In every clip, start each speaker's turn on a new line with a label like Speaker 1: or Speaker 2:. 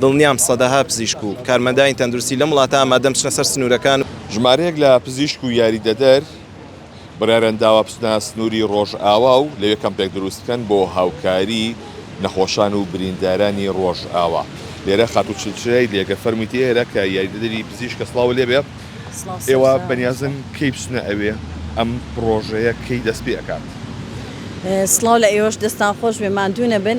Speaker 1: دڵنیام سەدەها پزیشک و کارمەندانی تەندروستی لەم وڵاتە ئامادەن بچنە سەر سنوورەکان و. ژمارەیەک لە
Speaker 2: پزیشک و یاریدەدەر بڕیاریان داوە بچنە سنووری ڕۆژئاوا و لەوێ کەمپێک دروست بکەن بۆ هاوکاری نەخۆشان و بریندارانی ڕۆژئاوا. لێرە خاتوو چلچرای دێگە فەرموویەتی ئێرە کە یاریدەدەری پزیشکە سڵاوە لێ بێ، ئێوە بەنیازن کەی بچنە ئەوێ؟ ئەم پڕۆژەیە کەی دەست پێ ئەکات؟
Speaker 3: سڵاو لە ئێوەش، دەستتان خۆش بێ ماندوو نەبن.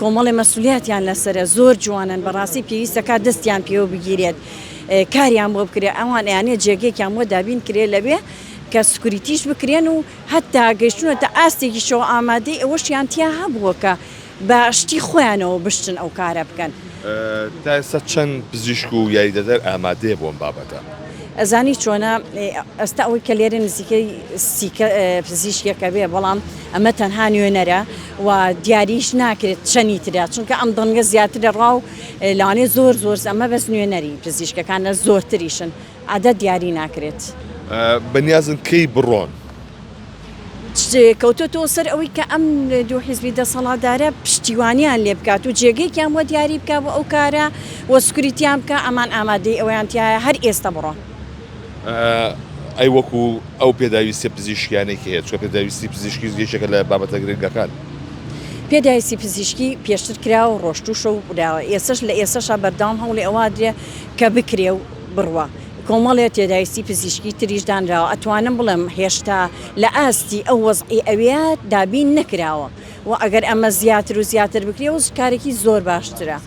Speaker 3: کۆمەڵێ مەسولیاتیان لەسەرە زۆر جوانن بەڕاستی پێویستە کات دەستیان پێوە بگیرێت کاریان بۆ بکرێت ئەوان یانێ جێگەێکیان بۆ دابین کرێ لەوێ کە سکوریتیش بکرێن و هەتا گەشتونە تا ئاستێکی شەوە ئامادەی ئەوەشیان تیا هەبووە کە بە شتی خۆیانەوە بشتن ئەو کارە بکەن تا ئێستا
Speaker 2: چەند پزیشک و یاریدەدەر ئامادەیە بۆم بابەتە؟ ئەزانی چۆنە
Speaker 3: ئەستا ئەوەی کە لێرە نزیکەی سیکە پزیشکێکە بێ بەڵام ئەمە تەنها نوێنەرە و دیاریش ناکرێت چەنی ترە چونکە ئەم دەنگە زیاتر لە ڕاو لەوانێ زۆر زۆر ئەمە بەس نوێنەری پزیشکەکانە زۆرتریشن عادە دیاری ناکرێت. بەنیازن
Speaker 2: کەی بڕۆن؟
Speaker 3: کەوتۆتەوە سەر ئەوەی کە ئەم دوو حیزبی دەسەڵاتدارە پشتیوانیان لێ بکات و جێگەیەکیان بۆ دیاری بکات بۆ ئەو کارە و سکوریتیان بکات، ئەمان ئامادەی ئەوەیان تیایە هەر ئێستا بڕۆن. ئەی
Speaker 2: وەکو ئەو پێداویستیە پزیشکیانەی کە هەیە چکە پێداویستی پزیشکی یەکێکە لە بابەتە گرنگەکان. پێداویستی
Speaker 3: پزیشکی پێشتر کرا و ڕۆشتوشە و براوە ئێسش لە ئێسشا بەردەوام هەوڵی ئەوادرێ کە بکرێ و بڕوا کۆمەڵێ تێداویستی پزیشکی تریش دانراوە ئەتوانم بڵێم هێشتا لە ئاستی ئەو وەزعی ئەوێ دابین نەکراوە وە ئەگەر ئەمە زیاتر و زیاتر بکرێ و کارێکی زۆر باشترە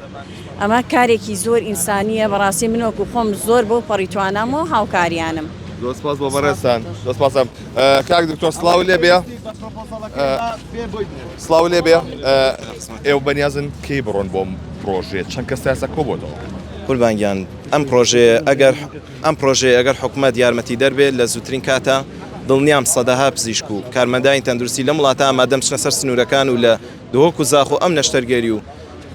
Speaker 3: ئەمە کارێکی زۆر ئینسانیە بەڕاستی من وەکو خۆم زۆر بۆ پەڕی توانام و هاوکاریانم. زۆر سپاس بۆ
Speaker 2: بەڕێزتان زۆر سپاسم کاک دکتۆر سڵاو لێ بێ سڵاو لێ بێ ئێوە بەنیازن کەی بڕۆن بۆم پرۆژێ چەند کەس تا ئێستا کۆبۆتەوە قوربانگیان
Speaker 1: ئەم پرۆژەیە ئەگەر ئەم پرۆژەیە ئەگەر حکومەت یارمەتیدەر بێت لە زووترین کاتا دڵنیام سەدەها پزیشک و کارمەندانی تەندروستی لەم وڵاتە ئامادەن بچنە سەر سنوورەکان و لە دهۆک و زاخۆ ئەم نەشتەرگەری و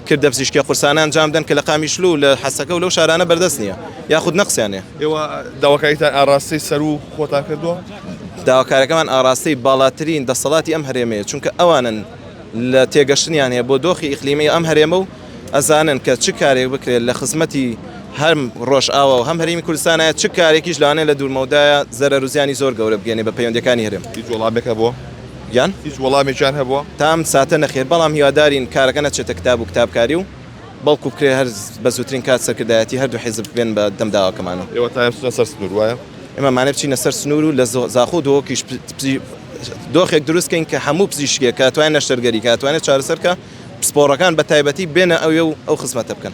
Speaker 1: کردە پزیشکیە قورسانە ئەنجام بدەن کە لە قامیشلو و لە حەسەکە و لەو شارانە بەردەست نییە یاخود نەقسیان هەیە. ئێوە داواکاریتان
Speaker 2: ئاراستەی سەروو خۆتان کردووە؟ داواکاریەکەمان
Speaker 1: ئاراستەی باڵاترین دەسەڵاتی ئەم هەرێمەیە چونکە ئەوانن لە تێگەشتنیان هەیە بۆ دۆخی ئیقلیمی ئەم هەرێمە و ئەزانن کە چ کارێک بکرێت لە خزمەتی هەم ڕۆژئاوا و هەم هەرێمی کوردستانە، چ کارێکیش لەوانەیە لە دوورمەودایە زەرەر و زیانی زۆر گەورە بگەیەنێت بە پەیوەندییەکانی هەرێم. هیچ وەڵامێک هەبووە؟
Speaker 2: گیان؟ هیچ
Speaker 1: وەڵامێکیان
Speaker 2: هەبووە؟ تا ئەم ساتە نەخێر،
Speaker 1: بەڵام هیوادارین کارەکە نەچێتە کتاب و کتابکاری و بەڵکو بکرێت هەر بە زووترین کات سەرکردایەتی هەردوو حیزب بێن بە دەم داواکەمان و. ئێوە تایە بچنە سەر
Speaker 2: سنوور، وایە؟ ئێمە مانای بچینە سەر
Speaker 1: سنوور و لە زاخۆ و دهۆکیش دۆخێک دروست کەین کە هەموو پزیشکێک کە ئەتوانێت نەشتەرگەری کە ئەتوانێت چارەسەر کە پسپۆڕەکان بە تایبەتی بێنە ئەوێ و ئەو خزمەتە بکەن.